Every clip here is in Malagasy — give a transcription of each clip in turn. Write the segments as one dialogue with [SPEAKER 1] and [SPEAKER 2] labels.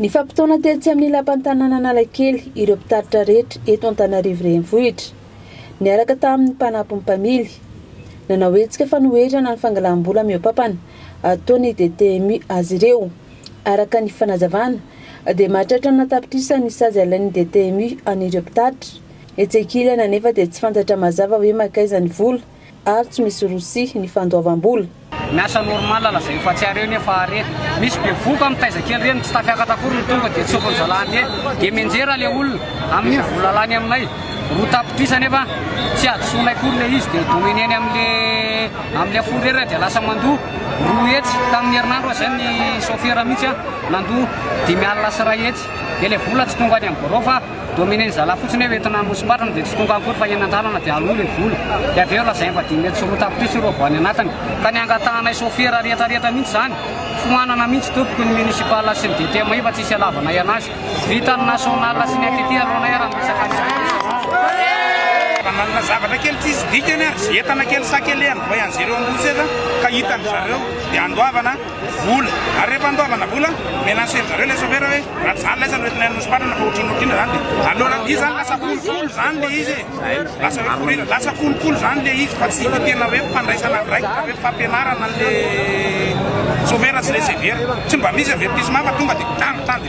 [SPEAKER 1] Nifampitaona tetsy amin'ny lapan'ny tanànan'Analakely ireo mpitatitra rehetra eto Antananarivo Renivohitra, niaraka tamin'ny mpanampin'ny mpamily. Nanao hetsika fanoherana ny fangalam-bola mihoa-pampana ataon'ny DTMU azy ireo. Araka ny fanazavana, dia mahatratra ny an-tapitrisany ny sazy alain'ny DTMU an'ireo mpitatitra. Etsy-ankilany anefa dia tsy fantatra mazava hoe mankaiza ny vola ary tsy misy rosia ny fandoavam-bola. Miasa normal
[SPEAKER 2] lazaio fa tsy are ne fa are misy bevoka mitaiza kely reny tsy tafiakatra akory ny tonga dia tsofiny zalahy anie dia mianjera le olona amin'iny vola lany aminay roa tapitrisa nefa tsy hadisoanay akory le izy dia domineny amle amle fourrera dia lasa mandoa roa hetsy tamin'ny herinandro aza ny sofera mihitsy a nandoa dimy alina sy iray hetsy dia le vola tsy tonga any amin'ny birao fa Dominen'ny zalahy fotsiny hoe entina hamosim-batrany dia tsy tonga akory fa eny an-dalana dia aloha ilay vola. Dia avy eo lazainy fa dimy hetsy sy roa tapitrisa ireo voany anatiny. Ka ny hangatahanay sôfera rehetra rehetra mihitsy izany. Foanana mihitsy tompoko ny municipal sy ny DTMI fa tsisy hialavanay anazy. Vita ny national sy ny ATT alohanay ary miresaka ny CNS. Raha
[SPEAKER 3] manana zavatra kely tsisy dikany ary entana kely sakelehan'ny voyangers eo Ambositra ka hitan'ny zareo dia andoavana. vola ary rehefa andoavana vola mena aseo zareo ilay chauffeur hoe raha tsy zany laisa no entinay nosomparana fa otrino otrino zany dia alora izy zany lasa kolokolo zany le izy lasa hoe korira lasa kolokolo zany le izy fa tsy tena hoe mpandraisana andraikitra hoe fampianarana le chauffeur sy le severa tsy mba misy avertissement fa tonga dia tany tany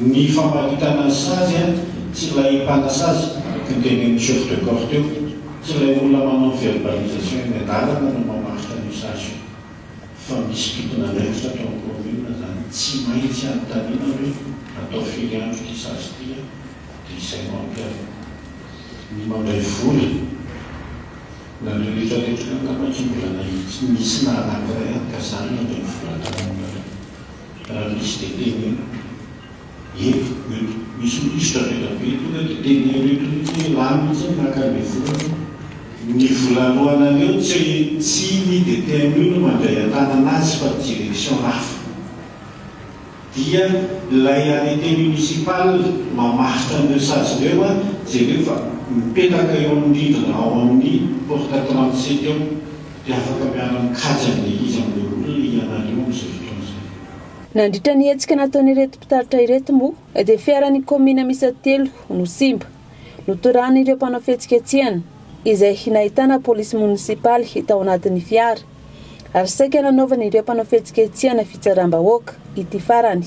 [SPEAKER 1] Ny
[SPEAKER 4] famparitana ny sazy an, tsy ilay mpanasazy, teo dia ny chef de corps teo, tsy ilay olona manao verbalisation eny an-dalana no mamaritra an'io sazy io, fa misy tompon'andraikitra ato amin'ny commune zany tsy maintsy anontaniana hoe atao firy andro ity sazy ity an, dia izay no ampiharina. Ny mandray vola, nareo retraretra io angamba tsy mbola nahitsy nisy na anankiray an, ka zany handray vola tany aminareo. Raha misy dia teneno. Eto, eto. Misy minisitra avy ela be tonga dia teneno eto mihitsy hoe rà mihitsy aho maka an'ilay volana. Ny volanoanareo tsy tsy ny DTMU no mandray an-tanana azy fa direction hafa. Dia ilay arrêté municipal mamaritra an'ireo sazy ireo an, jereo fa mipetaka eo amin'ny rindrina ao amin'ny porte trente sept eo. dia afaka miara-mikaja ny Eglizy amin'ireo olona ianareo amin'izao fotoana izao. Nandritra ny
[SPEAKER 1] hetsika nataon'ireto mpitaritra ireto moa dia fiaran'ny kaominina miisa telo no simba, notorahan'ireo mpanao fihetsiketsehana, izay nahitana polisy monisipaly tao anatin'ny fiara, ary saika nanaovan'ireo mpanao fihetsiketsehana fitsaram-bahoaka ity farany.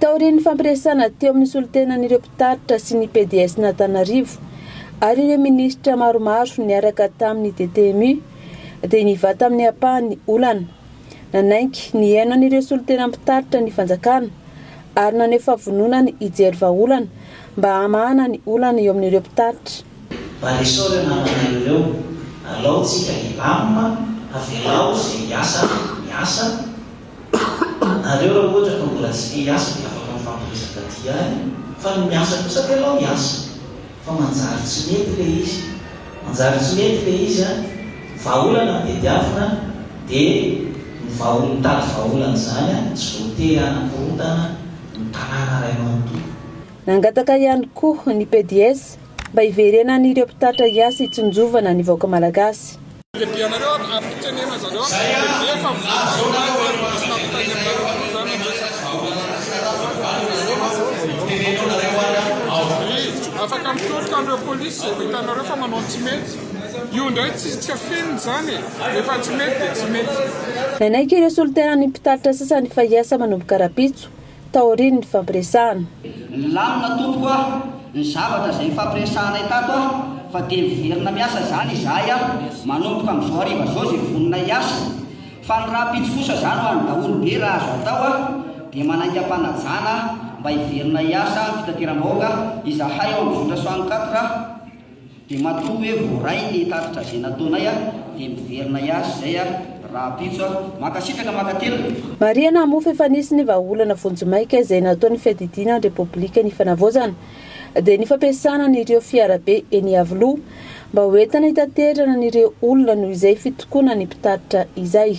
[SPEAKER 1] Taorian'ny fampiresahana teo amin'ny solontenan'ireo mpitaritra sy ny PDSn'Antananarivo ary ireo minisitra maromaro niaraka tamin'ny DTMU dia nivaha tamin'ny ampahany ny olana. Nanaiky ny haino an'ireo solontena mpitaritra ny fanjakana ary naneho fahavononany hijery vahaolana mba hamahana ny olana eo amin'ireo mpitaritra. Mba resore
[SPEAKER 5] namanay ireo. Alao tsika hilamina, avelao ze hiasa miasa, nareo ra ohatra ka mbola tsy te hiasa de afaka mifampiresaka aty ihany fa ny miasa kosa avelao hiasa fa manjary tsy mety le izy manjary tsy mety le izy an! Vahaolana ny tediavina de ny vahaol mitady vahaolana izany an! Tsy voatery hanakorontana ny tanàna ray manontolo. Nangataka
[SPEAKER 1] ihany koa ny PDS mba hiverenan'ireo mpitatitra hiasa hitsinjovana ny vahoaka Malagasy.
[SPEAKER 6] Nanaiky ireo
[SPEAKER 1] solontenan'ny mpitatitra sasany fa hiasa manomboka rahampitso taorian'ny nifampiresahana. Nilamina
[SPEAKER 7] tompoko a! ny zavatra izay nifampiresahanay tato a! fa dia miverina miasa izany izahay a! manomboka amin'izao hariva izao izay vonona hiasa fa ny rahampitso kosa izany ho an'ny daholo be raha azo atao a! dia manainga am-panajana mba hiverina hiasa amin'ny fitateram-bahoaka izahay ao amin'ny zotra soixante-quatre Dia matoa hoe voaray ny tatitra izay nataonay a, dia miverina hiazo izay a rahampitso a. Mankasitraka mankatelina. Marihana moa fa efa
[SPEAKER 1] nisy ny vahaolana vonjimaika izay nataon'ny fiadidiana ny Repoblika ny Fanavaozana, dia ny fampiasana an'ireo fiarabe eny Iavoloha mba hoentina hitaterana an'ireo olona noho izay fitokonan'ny mpitatitra izay.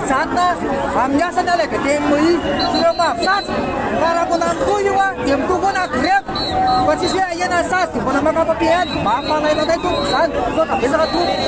[SPEAKER 8] Mijanona amin'ny asany aloha dia dia MOI sy ireo mahafisazy fa raha mbola mitohy io an dia mitohy koa na grevy fa tsisy hoe ahena ny sazy dia mbola maka papier any mba hampanaina anay tompoko izany sao ka betsaka tompoko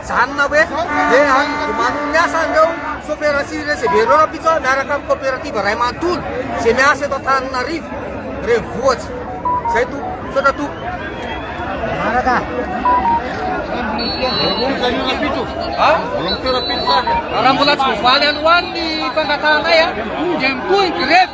[SPEAKER 8] Mijanona hoe le any de manao ny asa an'ireo sofera sy recevera ireo rahampitso a, miaraka amin'ny coopérative ray manontolo izay miasa eto Antananarivo renivohitra. Izay Tompo, misaotra Tompo. Manaraka. Raha mbola tsy voavaly alohan'ny fangatahanay dia mitohy ny grevy.